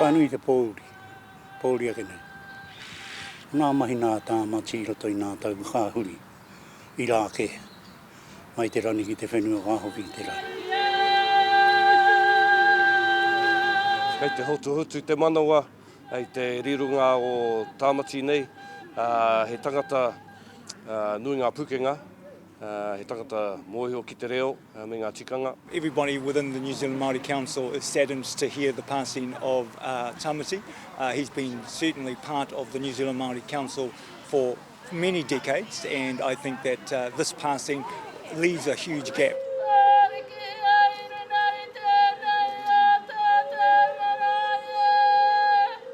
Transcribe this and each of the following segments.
Ka nui te pōuri, pōuri ake nei. Ko ngā mahi nā Tāmati i roto i ngā tau ka huri, irā kē, mai te rangi ki te whenua ka hoki i te rangi. Kei te hotuhotu te manawa. Hei te rironga o Tāmati nei, he tangata nui ngā pukenga, he tangata mōhio ki te reo me ngā tikanga. Everybody within the New Zealand Māori Council is saddened to hear the passing of Tāmati. He's been certainly part of the New Zealand Māori Council for many decades and I think that uh, this passing leaves a huge gap.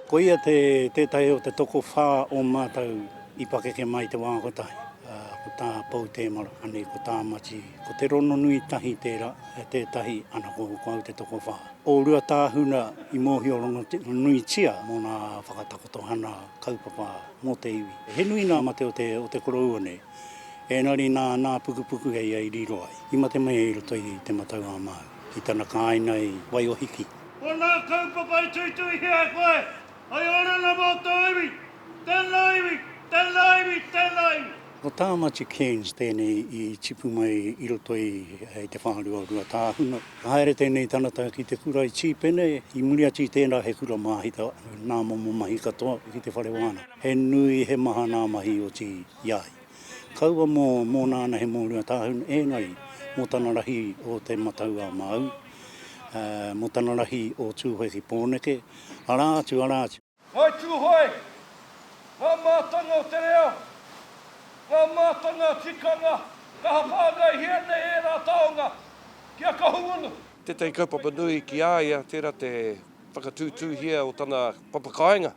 Koia te tētahi o te toko whā o mātou i pakeke mai te wā kotahi. Uh, ko tā Pou Tēmara, anei ko tā Mati, ko te rono nui tahi tērā, e tētahi ana ko kau te toko whā. O rua tāhuna i mōhio rongo nui tia mō nā whakatakotohana kaupapa mō te iwi. He nui ngā mate o te, o te koroua nei. Ēngari nā, nā Pukupuku hei ia i riro ai. I mate mai i roto i te matau a Māui, i tana kāinga i Waiōhiki. Ko ngā kaupapa i tuituihia e koe, hei oranga mō tō iwi. Tēnā iwi, tēnā iwi, tēnā iwi. Ko Tāmati Cairns tēnei i tipu mai i roto i te whārua Ruatāhuna. Ka haere tēnei tangata ki te kura i Tīpene, i muri atu i tērā he kura māhita nā momo mahi katoa ki te whare wānanga. He nui, he maha nā mahi i oti i a ia. Kaua mō, mōna anahe mō Ruatāhuna, ēngari, mō tana rahi o Te Matau-a-Māui, mō tana rahi o Tūhoe ki Pōneke, arā atu, arā atu. Ngāi Tūhoe, ngā mātanga o te reo, ngā mātanga tikanga, kaha whāngaihia nei ērā taonga ki a Kahungunu. Tētahi kaupapa nui ki a ia tērā te whakatūtūhia o tana papakāinga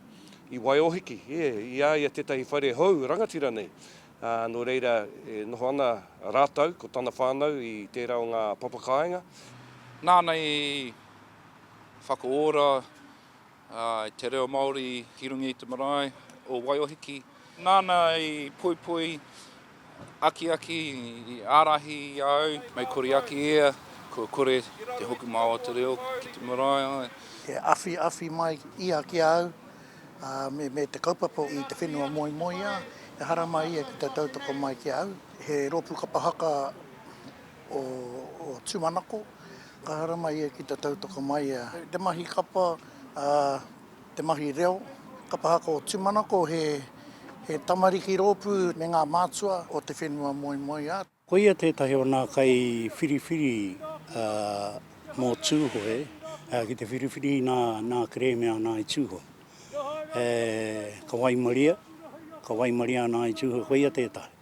i Waiōhiki, i a ia tētahi whare hou rangatira nei, ā, nō reira e noho ana rātou ko tana whānau i tērā o ngā papakāinga. Nāna i whakaora I te reo Māori ki runga i te marae o Waiohiki. Nāna i poipoi, akiaki, i ārahi i a au. Mei kore ake ia, kua kore te hokomau o te reo ki te marae ai. E awhiawhi mai ia ki a au me te kaupapa i te whenua moemoeā, ehara mai ia ki te tautoko mai ki a au. He rōpū kapa haka o Tumanako, ka haramai ia ki te tautoko mai a. Te mahi kapa, te mahi reo, kapa haka o Tumanako he tamariki rōpū me ngā mātua o te whenua moemoeā. Koia tētahi o nā kai whiriwhiri mō Tūhoe ki te whiriwhiri nā kerēme ana i Tūhoe. Ka waimaria, ka waimaria ana i Tūhoe, koia tētahi.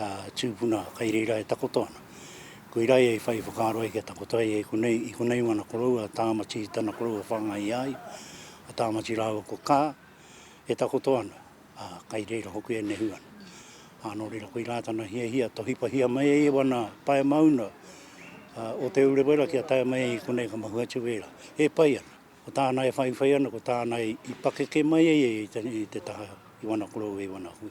a tūpuna kai reira e takoto ana. Koira ia i whai whakaaro ai kia takoto ai e konei, i konei wana korou a Tāmati tana korou a whangai ai, a Tāmati rāua ko Ka, e takoto ana, a kai reira hoki e nehu ana. A nō reira koira tana hiahia, tohipahia mai ai e wana pae mauna o Te Urewera kia tae mai ai i konei ka mahu atu reira. E pai ana, ko tāna e whaiwhai ana, ko tāna i pakeke mai ai e i te taha i wana korou e wana hui.